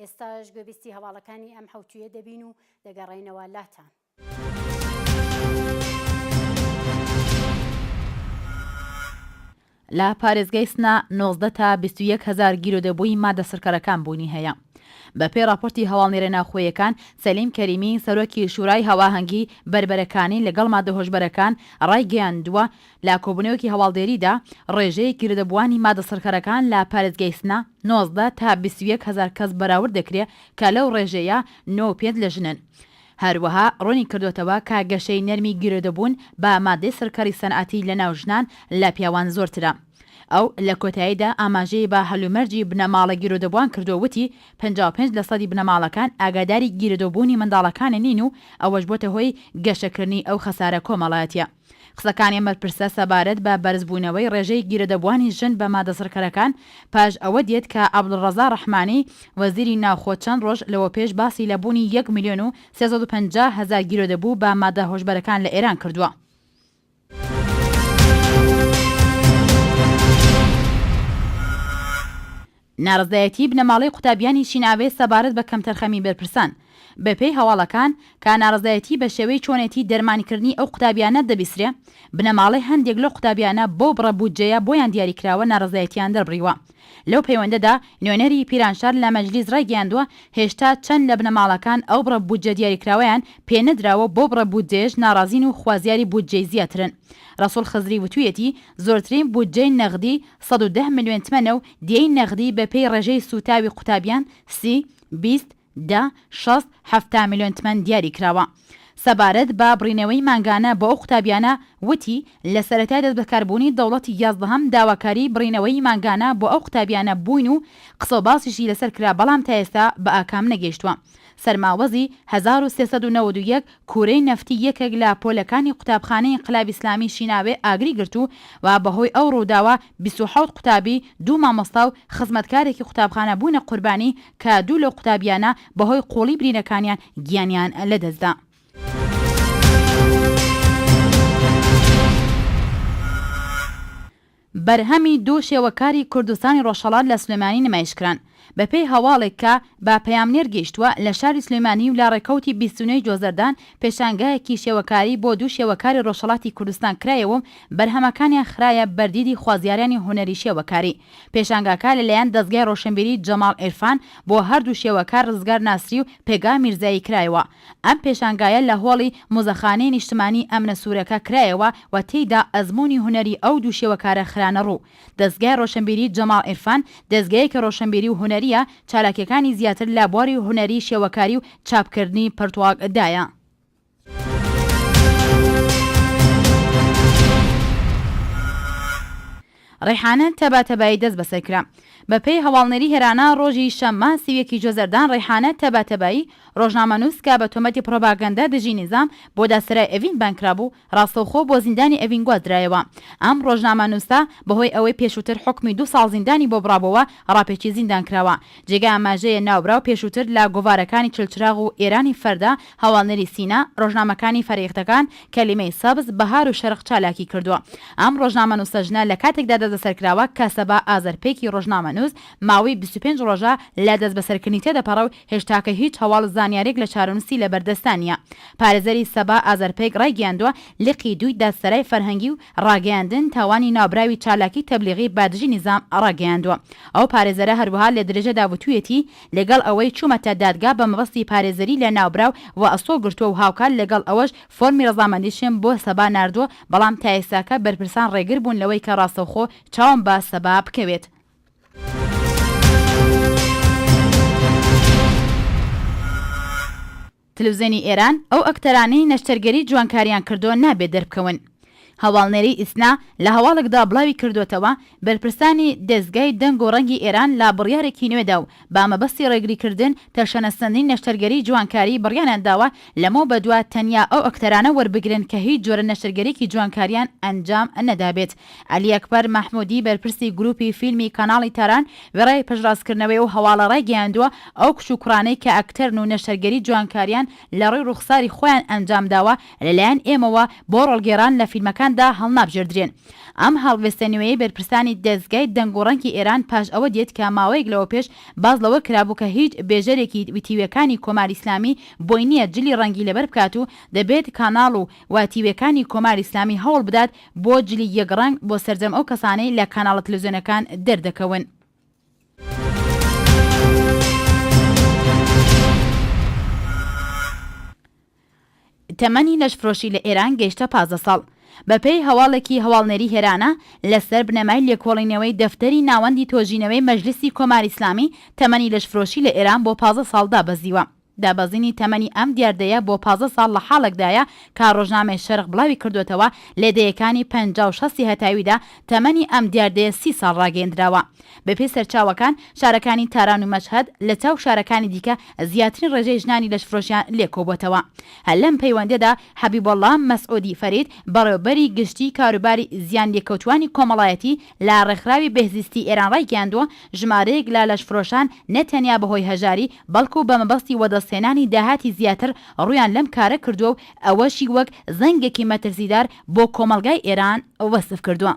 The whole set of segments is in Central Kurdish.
ئێستاش گوێبیستی هەواڵەکانی ئەم حەوتوویە دەبین و دەگەڕێینەوە لاتان. لە پارێزگای سنە نۆزدە تا بیست و یەک هەزار گیرۆدەبووی مادە سڕکەرەکان بوونی هەیە. بەپێی ڕاپۆرتی هەواڵنێرە ناوخۆیەکان، سەلیم کەریمی، سەرۆکی شورای هاوئاهەنگی بەربەرەکانی لەگەڵ مادە هۆشبەرەکان ڕایگەیاندووە، لە کۆبوونەوەیەکی هەواڵدێریدا ڕێژەی گرێدەبووانی مادە سڕکەرەکان لە پارێزگای سنە نۆزدە تا بیست و یەک هەزار کەس بەراورد دەکرێ کە لەو ڕێژەیە نۆ و پێنج لە ژنن. هەروەها ڕوونی کردۆتەوە کە گەشەی نەرمی گرێدەبوون بە مادەی سڕکەری سەنعەتی لەناو ژنان لە پیاوان زۆرترە. ئەو لە کۆتاییدا ئاماژەی بە هەلومەرجی بنەماڵە گرێدەبووان کردو وتی، پەنجا و پێنج لەسەدی بنەماڵەکان ئاگاداری گرێدەبوونی منداڵەکانە نین و ئەوەش بۆتە هۆی گەشەکردنی ئەو خەسارە کۆمەڵایەتیە. قسەکانی ئەم بەرپرسە سەبارەت بە بەرزبوونەوەی ڕێژەی گیرۆدەبووانی ژن بە مادەسڕکەرەکان پاش ئەوە دێت کە عەبدولڕەزا ڕەحمانی وەزیری ناوخۆ چەند ڕۆژ لەوەوپێش باسی لە بوونی یەک ملیۆن و سێ سەد و پەنجا هەزار گیرۆدەبوو بە مادە هۆشبەرەکان لە ئێران کردووە. نارەزایەتیی بنەماڵەی قوتابیانی چین ئاوێز سەبارەت بە کەمتەرخەمیی بەرپرسان. بەپێی هەواڵەکان، کا نارەزایەتیی بە شێوەی چۆنێتیی دەرمانکردنی ئەو قوتابیانە دەبیسرێ، بنەماڵەی هەندێک لەو قوتابیانە بەو بڕە بودجەیە بۆیان دیاری کراوە نارەزایەتییان دەربڕیوە. لەو پەیوەندەدا نوێنەری پیرانشار لە مەجلیس رایگەیاندووە، هێشتا چەند لە بنەماڵەکان ئەو بڕە بودجە دیاریکراوەیان پێ نەدراوەو بەو بڕە بودجەیەش ناڕازین و خوازیاری بودجەی زیاترن. رەسوڵ خزری وتوویەتی، زۆرترین بودجەی نەغدی سەد و دە ملیۆن تمەنە و دیەی نەغدی بە پێی ڕێژەی سووتاوی قوتابیان، سی، بیست، دە، شەست، حەفتا ملیۆن تمەن دیاری کراوە. سەبارەت بە بڕینەوەی مانگانە بۆ ئەو قوتابیانە، وتی، لە سەرەتای دەست بەکار بوونی دەوڵەتی یازدەهەم داواکاری بڕینەوەی مانگانە بۆ ئەو قوتابیانە بووین و قسە و باسیشی لەسەر کرا بەڵام تا ئێستا بە ئاکام نەگەیشتووە. سەرماوەزی هەزار و سێ سەد و نەوەد و یەک کوورەی نەفتی یەکێک لە پۆلەکانی قوتابخانەی ئینقلابی ئیسلامی شیناوێ ئاگری گرت و و بەهۆی ئەو ڕووداوە بیست و حەوت قوتابی، دوو مامۆستا و خزمەتکارێکی قوتابخانە بوونە قوربانی کە دوو لەو قوتابییانە بەهۆی قووڵی برینەکانیان گیانیان لەدەست دا. بەرهەمی دوو شێوەکاری کوردستانی ڕۆژهەڵات لە سلێمانی نمایشکران. بەپێی هەواڵێک کە بە پەیامنێر گەیشتووە، لە شاری سلێمانی و لە ڕێکەوتی بیست و نۆی جۆزەردان پێشانگایەکی شێوەکاری بۆ دوو شێوەکاری ڕۆژهەڵاتی کوردستان کرایەوە و بەرهەمەکانیان خرایە بەر دیدی خوازیارانی هونەری شێوەکاری. پێشانگاکە لەلایەن دەزگای ڕۆشنبیری جەماڵ عیرفان بۆ هەردوو شێوەکار ڕزگار ناسری و پێگا میرزایی کرایەوە. ئەم پێشانگایە لە هۆڵی مۆزەخانەی نیشتمانیی ئەمنە سوورەکە کرایەوە و تێیدا ئەزموونی هونەری ئەو دوو شێوەکارە خرانە ڕوو. دەزگای ڕۆشنبیریی جەماڵ عیرفان، دەزگایەکی ڕۆشنبیری و هونەرییە، چالاکییەکانی زیاتر لە بواری هونەریی شێوەکاری و چاپکردنی پەرتووک دایە. ڕەیحانە تەبا تەبایی دەستبەسەر کرا. بە پێی هەواڵنێری هێرانا ڕۆژی شەممە سی و یەک ی جۆزەردان ڕەیحانە تەبا تەبایی ڕۆژنامەنووس کە بە تۆمەتی پڕۆباگەندە دژی نیزام بۆ دادسەرای ئەڤین بانگ کرابوو ڕاستەوخۆ بۆ زیندانی ئەڤین گوازرایەوە ئەم ڕۆژنامەنووسە بە هۆی ئەوەی پێشووتر حوکمی دوو ساڵ زیندانی بۆ بڕابۆوە ڕاپێچی زیندان کراوە جێگای ئاماژەیە ناوبراو پێشووتر لە گۆڤارەکانی چلچراغ و ئێرانی فەردە هەواڵنێری سینا، ڕۆژنامەکانی فەرەیختەکان، کەلیمەی سەبز، بەهار و شەرق چالاکی کردووە. ئەم ڕۆژنامەنووسە ژنە لە کاتێکدا دەستبەسەر کراوە کە سەبا ئازەرپێکی ڕۆژنامەنووس ماوەی بیست و پێنج ڕۆژە لە دەستبەسەرکردنی تێدەپەڕێ و هێشتاکە هیچ هەواڵ زانیارییەک لە چارەنووسی لە بەردەستدا نییە. پارێزەری سەبا ئازەرپێک ڕایگەیاندووە، لقی دووی دادسەرای فەرهەنگی و ڕاگەیاندن تاوانی ناوبراوی چالاکی تەبلیغی بە دژی نیزام ڕاگەیاندووە. ئەو پارێزەرە هەروەها لە درێژەدا وتوویەتی، لەگەڵ ئەوەی چوومەتە دادگا بە مەبەستی پارێزەری لە ناوبراو و ئەستۆ گرتووە و هاوکات لەگەڵ ئەوەش فۆرمی ڕەزامەندیشم بۆ سەبا ناردووە، بەڵام تا ئێستاکە بەرپرسان ڕێگر بوون لەوەی کە ڕاستەوخۆ چاوم بە سەبا بکەوێت. تلوزێنی ئێران، ئەو ئەکتەرانەی نەشتەرگەری جوانکاریان کردووە نابێ دەربکەون. هەواڵنێری ئیسنا لە هەواڵێکدا بڵاوی کردووەتەوە، بەرپرسانی دەزگای دەنگ و ڕەنگی ئێران لە بڕیارێکی نوێدا و بە مەبەستی ڕێگریکردن تەشەنەسەندنی نەشتەرگەری جوانکاری بڕیاریان داوە لەمەو بەدوا تەنیا ئەو ئەکتەرانە وەربگرن کە هیچ جۆرە نەشتەرگەریەکی جوانکاریان ئەنجام نەدابێت عەلی ئەکبەر مەحموودی بەرپرسی گرووپی فیلمی کاناڵی تاران وێڕای پشتڕاستکردنەوەی ئەو هەواڵە ڕایگەیاندووە، ئەو کچ و کوڕانەی کە ئەکتەرن و نەشتەرگەری جوانکارییان لە ڕووی ڕووخساری خۆیان ئەنجامداوە لەلایەن ئێمەوە بۆ ڕۆڵگێڕان لە فیلمەکاندا هەڵنابژێردرێن. ئەم هەڵوێستە نوێیەی بەرپرسانی دەزگای دەنگ و ڕەنگی ئێران پاش ئەوە دێت کە ماوەیەک لەوە پێش باس لەوە کرابوو کە هیچ بێژەرێکی وتیویەکانی کۆماری ئیسلامی بۆی نییە جلی ڕەنگی لەبەر بکات و دەبێت کاناڵ و وتیویەکانی کۆماری ئیسلامی هەوڵ بدات بۆ جلی یەک ڕەنگ بۆ سەرجەم ئەو کەسانەی لە کاناڵە تلوزیۆنەکان دەردەکەون. تەمەنی لەشفرۆشی لە ئێران گەیشتە پازدە ساڵ. بەپێی هەواڵێکی هەواڵنێری هێرانا، لەسەر بنەمای لێکۆڵینەوەی دەفتەری ناوەندی تۆژینەوەی مەجلیسی کۆماری ئیسلامی، تەمەنی لەشفرۆشی لە ئێران بۆ پازدە ساڵ دابەزیوە. دابەزینی تەمەنی ئەم دیاردەیە بۆ پازدە ساڵ لە حاڵێکدایە کە ڕۆژنامەی شەرق بڵاوی کردووەتەوە، لە دەیەکانی پەنجا و شەستی هەتاویدا تەمەنی ئەم دیاردەیە سی ساڵ ڕاگەیەندراوە. بەپێی سەرچاوەکان، شارەکانی تاران و مەشهەد لە چاو شارەکانی دیکە زیاترین ڕێژەی ژنانی لەشفرۆشیان لێ کۆبووەتەوە. هەر لەم پەیوەندییەدا حەبیبۆڵڵا مەسعوودی فەرید، بەڕێوەبەری گشتیی کاروباری زیانلێکەوتووانی کۆمەڵایەتی، لە ڕێکخراوی بێهزیستی ئێران ڕایگەیاندووە، ژمارەیەک لە لەشفرۆشان نە تەنیا بەهۆی هەژاری، بەڵکو بە مەبەستی وەدەستهێنانی داهاتی زیاتر ڕوویان لەم کارە کردووە و ئەوەشی وەک زەنگێکی مەترسیدار بۆ کۆمەڵگای ئێران وەسف کردووە.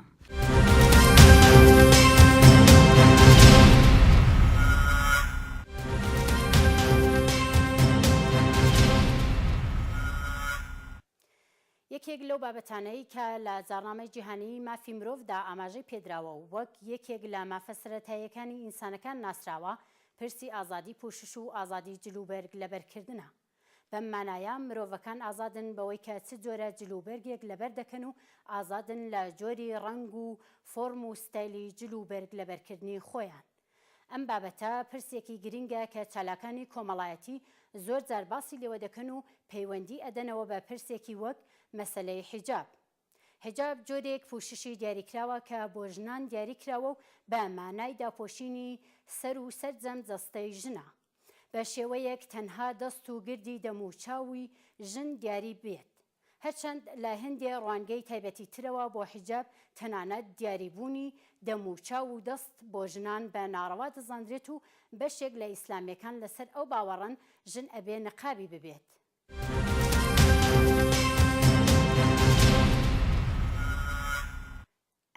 یەکێک لەو بابەتانەی کە لە جاڕنامەی جیهانیی مافی مرۆڤدا ئاماژەی پێدراوە و وەک یەکێک لە مافە سەرەتاییەکانی ئینسانەکان ناسراوە، پرسی ئازادی پوشش و ئازادی جلوبەرگ لەبەرکردنە. بەم مانایە مرۆڤەکان ئازادن بەوەی کە چ جۆرە جلوبەرگێک لەبەر دەکەن و ئازادن لە جۆری ڕەنگ و فۆرم و ستایلی جلوبەرگ لەبەرکردنی خۆیان. ئەم بابەتە پرسێکی گرنگە کە چالاکانی کۆمەڵایەتی زۆر جار باسی لێوە دەکەن و پەیوەندی ئەدەنەوە بە پرسێکی وەک مەسەلەی حیجاب. حیجاب جۆرێک پوششی دیاریکراوە کە بۆ ژنان دیاری کراوە و بە مانای داپۆشینی سەر و سەرجەم جەستەی ژنە بە شێوەیەک تەنها دەست و گردی دەم و چاوی ژن دیاری بێت. هەرچەند لە هەندێ ڕوانگەی تایبەتی ترەوە بۆ حیجاب تەنانەت دیاری بوونی دەم و چاو و دەست بۆ ژنان بە ناڕەوا دەزاندرێت و بەشێک لە ئیسلامیەکان لەسەر ئەو باوەڕەن ژن ئەبێ نقابی ببێت.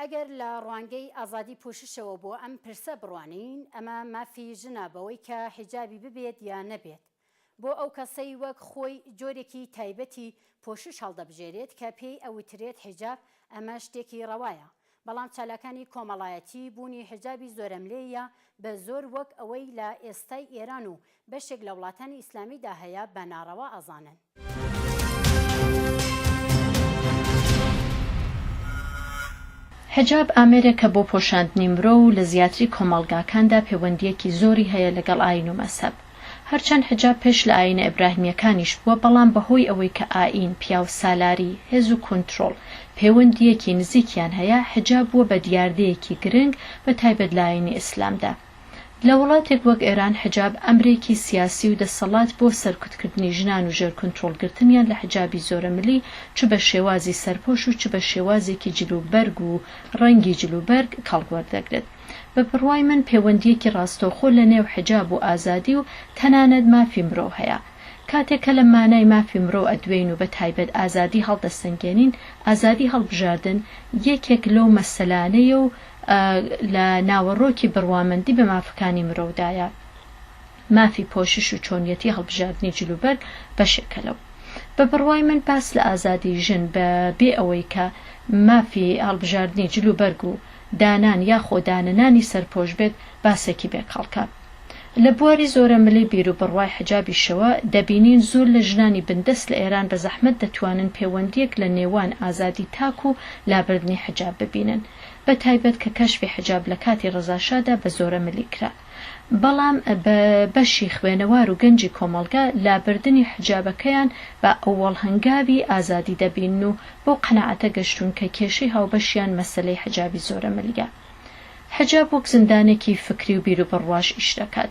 ئەگەر لە ڕوانگەی ئازادی پوششەوە بۆ ئەم پرسە بڕوانین، ئەمە مافی ژنە بەوەی کە حیجابی ببێت یا نەبێت. بۆ ئەو کەسەی وەک خۆی جۆرێکی تایبەتی پۆشش هەڵدەبژێرێت کە پێی ئەوترێت حیجاب، ئەمە شتێکی ڕەوایە. بەڵام چالاکانی کۆمەڵایەتی، بوونی حیجابی زۆرەملێیە بە زۆر وەک ئەوەی لە ئێستای ئێران و بەشێک لە وڵاتانی ئیسلامیدا هەیە بە ناڕەوا ئەزانن. حیجاب ئامێرێکە بۆ پۆشاندنی مرۆ و لە زیاتری کۆمەڵگاکاندا پێوەندییەکی زۆری هەیە لەگەڵ ئایین و مەزهەب. هەرچەند حیجاب پێش لە ئایینە ئیبراهیمییەکانیش بووە، بەڵام بەهۆی ئەوەی کە ئایین، پیاوسالاری، هێز و کونترۆڵ پێوەندییەکی نزیکیان هەیە، حیجاب بووە بە دیاردەیەکی گرنگ بە تایبەت لە ئایینی ئیسلامدا. لە وڵاتێک وەک ئێران حجاب ئەمرێکی سیاسی و دەسەڵات بۆ سەرکوتکردنی ژنان و ژێر کونترۆڵ گرتنیان لە حجابی زۆرەملی چ بە شێوازی سەرپۆش و چ بە شێوازێکی جل و بەرگ و ڕەنگی جل و بەرگ کەڵک وەردەگرێت بە بڕوای من پێوەندیەکی ڕاستەوخۆ لە نێو حجاب و ئازادی و تەنانەت مافی مرۆ هەیە کاتێک کە لە مانای مافی مرۆ ئەدوێین و بە تایبەت ئازادی هەڵدەسەنگێنین ئازادی هەڵبژاردن یەکێک لەو مەسەلانەیە و لە ناوەڕۆکی بڕوامەندی بە مافەکانی مرۆودایە. مافی پۆشش و چۆنیەتی هەڵبژاردنی جلوبەرگ بەشێکە لەو. بە بڕوای من باس لە ئازادی ژن بە بێ ئەوەی کە مافی هەڵبژاردنی جلوبەرگ و دانان یا خۆ دانەنانی سەرپۆش بێت باسێکی بێ کەڵکە. لە بواری زۆرەملی بیروبڕوای حجابیشەوە دەبینین زۆر لە ژنانی بندەست لە ئێران بە زەحمەت دەتوانن پێوەندییەک لە نێوان ئازادی تاک و لابردنی حجاب ببینن. بە تایبەت کە کەشفی حجاب لە کاتی ڕەزا شادا بە زۆرە ملی کرا بەڵام بە بەشی خوێنەوار و گەنجی کۆمەڵگە لابردنی حجابەکەیان بە ئەوەڵ هەنگاوی ئازادی دەبینن و بەو قەناعەتە گەشتوون کە کێشەی هاوبەشیان مەسەلەی حجابی زۆرە ملیە حجاب وەک زندانێکی فکری و بیروبڕواش ئیش دەکات.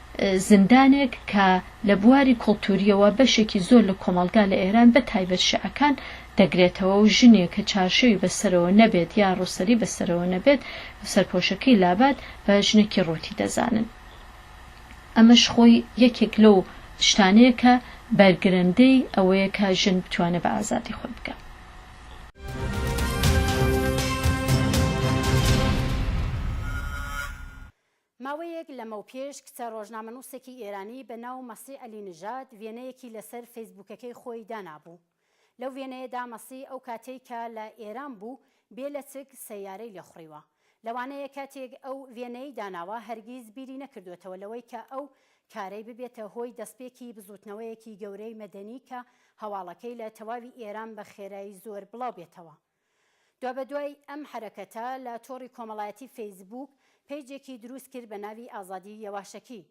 زیندانێک کە لە بواری کولتوورییەوە بەشێکی زۆر لە کۆمەڵگا لە ئێران بە تایبەت شیعەکان دەگرێتەوە و ژنێک کە چارشێوی بە سەرەوە نەبێت یا ڕووسەری بە سەرەوە نەبێت و سەرپۆشەکەی لابات بە ژنێکی ڕووتی دەزانن. ئەمەش خۆی یەکێک لەو شتانەیە کە بەرگرەندەی ئەوەیە کە ژن بتوانێت بە ئازادی خۆی بگات. ماوەیەک لەمەوپێش کچە ڕۆژنامەنووسێکی ئێرانی بە ناو مەسی عەلی نژاد وێنەیەکی لەسەر فەیسبووکەکەی خۆی دانابوو. لەو وێنەیەدا مەسی ئەو کاتەی کە لە ئێران بوو بێ لەچک سەیارەی لێ خوڕیوە. لەوانەیە کاتێک ئەو وێنەیەی داناوە هەرگیز بیری نەکردۆتەوە لەوەی کە ئەو کارەی ببێتە هۆی دەستپێکی بزووتنەوەیەکی گەورەی مەدەنی کە هەواڵەکەی لە تەواوی ئێران بە خێرای زۆر بڵاو بێتەوە. دوابەدوای ئەم حەرەکەتە لە تۆڕی کۆمەڵایەتی فەیسبووک پەیجێکی دروست کرد بە ناوی ئازادی یەواشەکی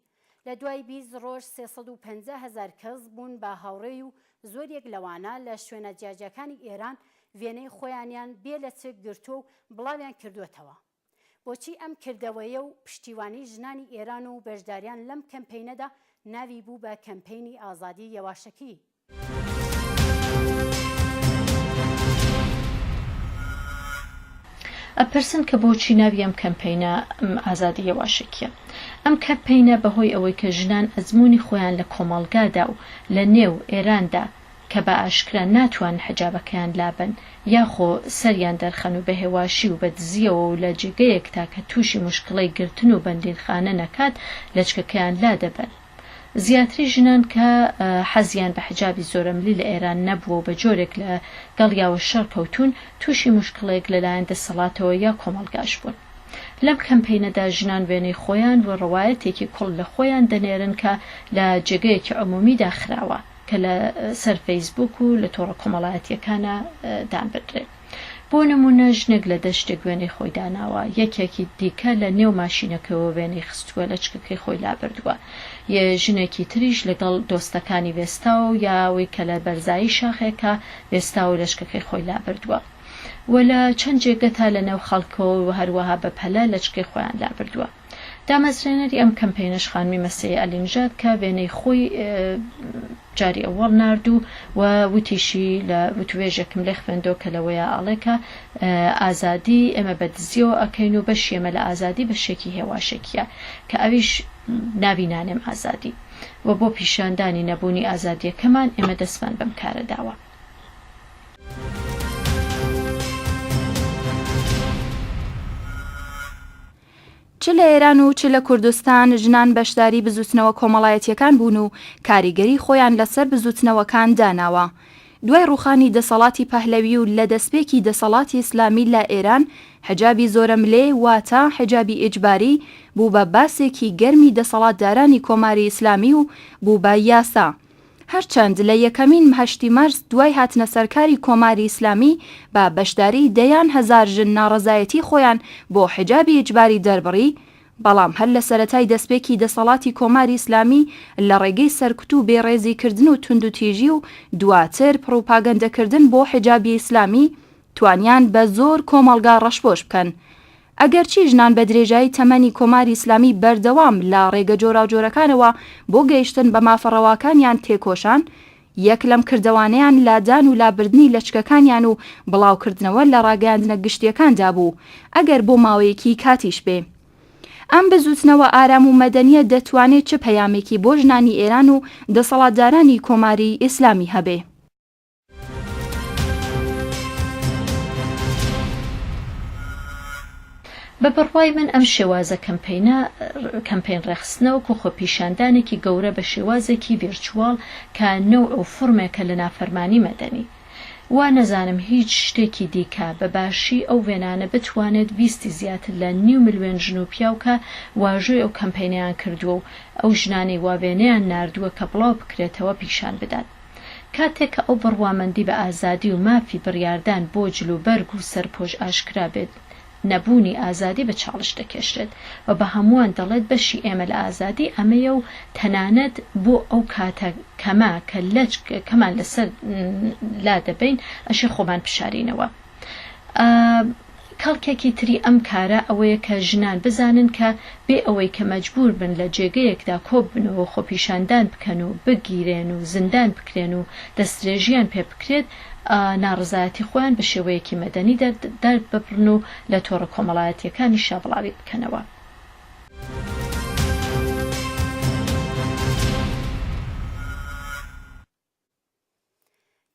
لە دوای بیست ڕۆژ سێ سەد و پەنجا هەزار کەس بوون بە هاوڕێی و زۆریەک لەوانە لە شوێنە جیاجیاکانی ئێران وێنەی خۆیانیان بێ لەچک گرتووە و بڵاویان کردووەتەوە. بۆچی ئەم کردەوەیە و پشتیوانی ژنانی ئێران و بەشداریان لەم کەمپەینەدا ناوی بوو بە کەمپەینی ئازادی یەواشکی؟ ئەپرسن کە بۆچی ناوی ئەم کەمپەینە ئازادی یەواشکییە؟ ئەم کەمپەینە بەهۆی ئەوەی کە ژنان ئەزموونی خۆیان لە کۆمەڵگادا و لە نێو ئێراندا کە بە ئاشکرا ناتوانن حیجابەکەیان لابەن یاخۆ سەریان دەرخەن و بە هێواشی و بە دزییەوە و لە جێگەیەک تاکە تووشی موشکڵەی گرتن و بەندینخانە نەکات لەچکەکەیان لادەبەن. زیاتری ژنان کە حەزیان بە حیجابی زۆرەملی لە ئێران نەبووە و بە جۆرێک لە گەڵیاوە شەڕ کەوتوون، تووشی موشکڵەیەک لەلایەن دەسەڵاتەوە یا کۆمەڵگاش بوون. لەم کەمپەینەدا ژنان وێنەی خۆیان و ڕەوایەتێکی کوڵ لە خۆیان دەنێرن کە لە جێگەیەکی عمومیدا خراوە. کە لە سەر فەیسبووک و لە تۆڕە کۆمەڵایەتییەکانا دانبدرێت. بۆ نموونە ژنێک لە دەشتێک وێنەی خۆی داناوە، یەکێکی دیکە لە نێو ماشینەکەوە وێنەی خستووە لەچکەکەی خۆی لابردووە، ی ژنێکی تریش لەگەڵ دۆستەکانی وێستاوە و یا ئەوەی کە لە بەرزایی شاخێکا وێستاوە و لەچکەکەی خۆی لابردووە و لە چەند جێگەتا لە نێو خەڵکەوە و هەروەها بە پەلە لەچکەی خۆیان لابردووە. دامەزرێنەری ئەم کەمپەینەش خانمی مەسیح عەلی نژاد کە وێنەی خۆی جاری ئەوەڵ نارد و و وتیشی لە وتوێژێکم لێ خوێندەوە کە لەوەیە ئاڵێ کە ئازادی ئێمە بە دزیەوە ئەکەین و بەشی ئێمە لە ئازادی بەشێکی هێواشێکیە کە ئەویش ناوی نانێم ئازادی و بۆ پیشاندانی نەبوونی ئازادیەکەمان ئێمە دەستمان بەم کارە داوە. چ لە ئێران و چ لە کوردستان ژنان بەشداری بزووتنەوە کۆمەڵایەتییەکان بوون و کاریگەری خۆیان لە سەر بزووتنەوەکان داناوە. دوای ڕووخانی دەسەڵاتی پەهلەوی و لە دەسپێکی دەسەڵاتی ئیسلامی لە ئێران، حیجابی زۆرەملێ واتە حیجابی ئیجباری بوو بە باسێکی گەرمی دەسەڵاتدارانی کۆماری ئیسلامی و بوو بە یاسا. هەرچەند لە یەکەمین هەشتی مارس دوای هاتنە سەرکاری کۆماری ئیسلامی بە بەشداریی دەیان هەزار ژن ناڕەزایەتیی خۆیان بۆ حیجابی ئیجباری دەربڕی، بەڵام هەر لە سەرەتای دەستپێکی دەسەڵاتی کۆماری ئیسلامی لە ڕێگەی سەرکوت و بێڕێزیکردن و توندوتیژی و دواتر پڕوپاگەندەکردن بۆ حیجابی ئیسلامی توانیان بە زۆر کۆمەڵگا ڕەشپۆش بکەن. ئەگەرچی ژنان بە درێژایی تەمەنی کۆماری ئیسلامی بەردەوام لە ڕێگە جۆراوجۆرەکانەوە بۆ گەیشتن بە مافە ڕەواکانیان تێکۆشان، یەک لەم کردەوانەیان لادان و لابردنی لەچکەکانیان و بڵاوکردنەوە لە ڕاگەیاندنە گشتییەکاندا بوو، ئەگەر بۆ ماوەیەکی کاتیش بێ. ئەم بزووتنەوە ئارام و مەدەنییە دەتوانێ چ پەیامێکی بۆ ژنانی ئێران و دەسەڵاتدارانی کۆماری ئیسلامی هەبێ؟ بە بڕوای من ئەم شێوازە کەمپینە کەمپین ڕێخستنەوەک و خۆپیشاندانێکی گەورە بە شێوازێکی ڤێرچوال کە نەوع و فرمێکە لە نافەرمانی مەدەنی. وا نەزانم هیچ شتێکی دیکە بە باشی ئەو وێنانە بتوانێت ویستی زیاتر لە نیو ملوێن ژن و پیاو کە واژۆی ئەو کەمپینەیان کردووە و ئەو ژنانەی وا وێنەیان ناردووە کە بڵاو بکرێتەوە پیشان بدات. کاتێک کە ئەو بڕوامەندی بە ئازادی و مافی بڕیاردان بۆ جلوبەرگ و سەرپۆش ئاشکرا بێت، نەبوونی ئازادی بە چاڵش دەکێشرێت و بە هەمووان دەڵێت بەشی ئێمە لە ئازادی ئەمەیە و تەنانەت بۆ ئەو کاتە کەمە کە لەچک کەمان لەسەر لا دەبەین ئەشێ خۆمان بشارینەوە. کەڵکێکی تری ئەم کارە ئەوەیە کە ژنان بزانن کە بێ ئەوەی کە مەجبوور بن لە جێگەیەکدا کۆببنەوە و خۆپیشاندان بکەن و بگیرێن و زیندان بکرێن و دەستدرێژییان پێ بکرێت، ناڕەزایەتی خۆیان بە شێوەیەکی مەدەنی دەرببڕن و لە تۆڕە کۆمەڵایەتییەکانیشا بڵاوی بکەنەوە.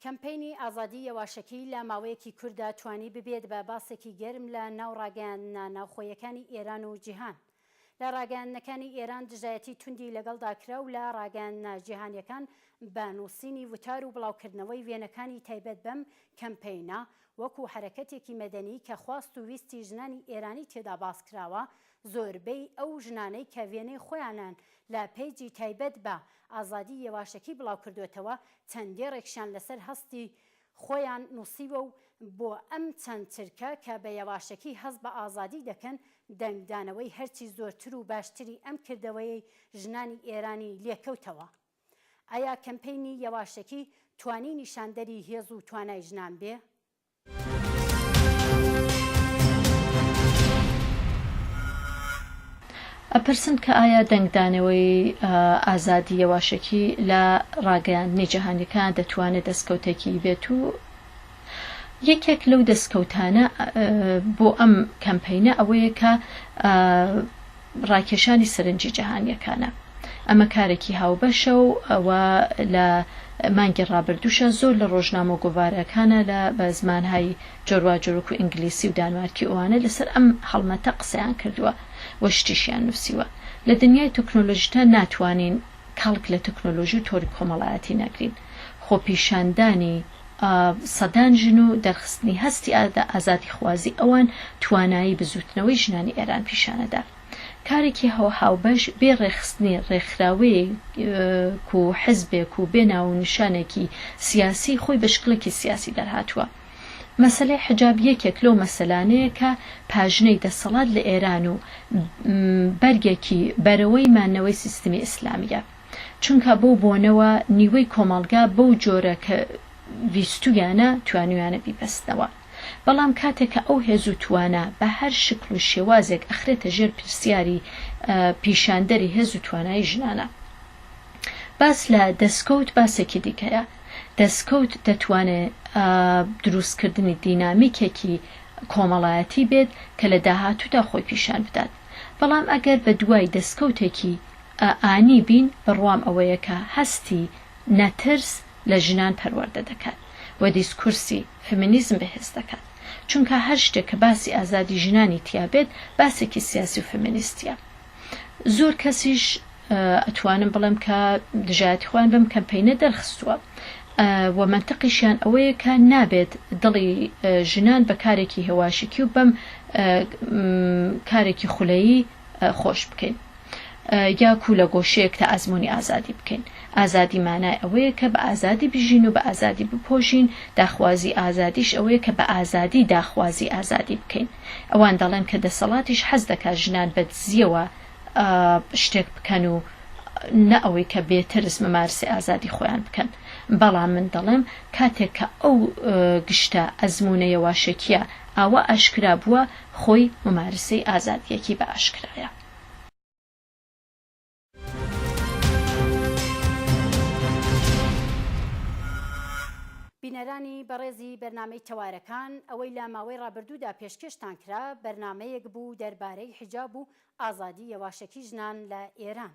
کەمپەینی ئازادی یەواشەکی لە ماوەیەکی کورتدا توانی ببێت بە باسێکی گەرم لە ناو ڕاگەیاندنە ناوخۆیەکانی ئێران و جیهان. لە ڕاگەیاندنەکانی ئێران دژایەتی توندی لەگەڵدا کرا و لە ڕاگەیاندنە جیهانیەکان بە نووسینی وتار و بڵاوکردنەوەی وێنەکانی تایبەت بەم کەمپەینە وەکو حەرەکەتێکی مەدەنی کە خواست و ویستی ژنانی ئێرانی تێدا باسکراوە زۆربەی ئەو ژنانەی کە وێنەی خۆیانان لە پەیجی تایبەت بە ئازادی یەواشەکی بڵاوکردۆتەوە چەند دێڕێکشیان لەسەر هەستی خۆیان نووسیوە و بۆ ئەم چەند چرکە کە بە یەواشەکی هەست بە ئازادی دەکەن دەنگدانەوەی هەرچی زۆرتر و باشتری ئەم کردەوەیەی ژنانی ئێرانی لێکەوتەوە ئایا کەمپەینی یەواشەکی توانی نیشاندەری هێز و توانای ژنان بێ؟ ئەپرسن کە ئایا دەنگدانەوەی ئازادی یەواشەکی لە ڕاگەیاندنی جیهانیەکان دەتوانێت دەستکەوتێکی بێت و یەکێک لەو دەستکەوتانە بۆ ئەم کەمپینە ئەوەیە کە ڕاکێشانی سەرنجی جەهانییەکانە. ئەمە کارێکی هاوبەشە و ئەوە لە مانگی ڕابردووشە زۆر لە ڕۆژنامە و گۆڤارەکانە لە بە زمانهای جۆرواجۆر وەکو ئینگلیسی و دانمارکی ئەوانە لەسەر ئەم هەڵمەتە قسەیان کردووە و شتیشیان نووسیوە. لە دنیای تۆکنۆلۆژیتا ناتوانین کەڵک لە تۆکنۆلۆژی و تۆڕی کۆمەڵایەتی نەگرین. خۆپیشاندانی. سەدان ژن و دەرخستنی هەستی ئازادیخوازی ئەوان توانایی بزووتنەوەی ژنانی ئێران پیشانەدا. کارێکی هاوبەش بێ ڕێکخستنی ڕێکخراوەیەک و حزبێک و بێ ناو و نیشانێکی سیاسی خۆی بە شکڵێکی سیاسی دەرهاتووە. مەسەلەی حیجاب یەکێک لەو مەسەلانەیە کە پاژنەی دەسەڵات لە ئێران و بەرگێکی بەرەوەی مانەوەی سیستمی ئیسلامییە. چونکا بەو بۆنەوە نیوەی کۆمەڵگا بەو جۆرە کە ویستویانە توانویانە بیبەستنەوە بەڵام کاتێک کە ئەو هێز و توانا بە هەر شکل و شێوازێک ئەخرێتە ژێر پرسیاری پیشاندەری هێز و توانایی ژنانە باس لە دەسکەوت باسێکی دیکەیە دەسکەوت دەتوانێ دروستکردنی دینامیکێکی کۆمەڵایەتی بێت کە لە داهاتوودا خۆی پیشان بدات بەڵام ئەگەر بە دوای دەسکەوتێکی ئا ئانی بین بڕوام ئەوەیە کە هەستی نەترس لە ژنان پەروەردە دەکات و دیسکورسی، فمینیزم، بەهێز دەکات. چونکا هەر شتێک کە باسی ئازادی ژنانی تیا بێت باسێکی سیاسی و فمینیستیە. زۆر کەسیش ئەتوانم بڵێم کە دژایەتی خۆیان بەم کەمپەینە دەرخستووە و مەنتقیشیان ئەوەیە کە نابێت دڵی ژنان بە کارێکی هێواشکی و بەم کارێکی خولەیی خۆش بکەین یا کو لە گۆشەیەک تا ئەزمموی ئازادی بکەین ئازادی مانای ئەوەیە کە بە ئازادی بژین و بە ئازادی بپۆژین داخوازی ئازادیش ئەوەیە کە بە ئازادی داخوازی ئازادی بکەین ئەوان دەڵێن کە دەسەڵاتیش حەز دەکات ژنان بە دزیەوە شتێک بکەن و نە ئەوەی کە بێترس مەمارسی ئازادی خۆیان بکەن بەڵام من دەڵێم کاتێک کە ئەو گشتە ئەزمونە یەواشەکیە ئاوا ئاشکرا بووە خۆی مومارسەی ئازادیەکی بە ئاشکرایە. بینەرانی بەڕێزی بەرنامەی تەوارەکان ئەوەی لە ماوەی ڕابردوودا پێشکێشتان کرا بەرنامەیەک بوو دەربارەی حیجاب و ئازادی یەواشەکی ژنان لە ئێران،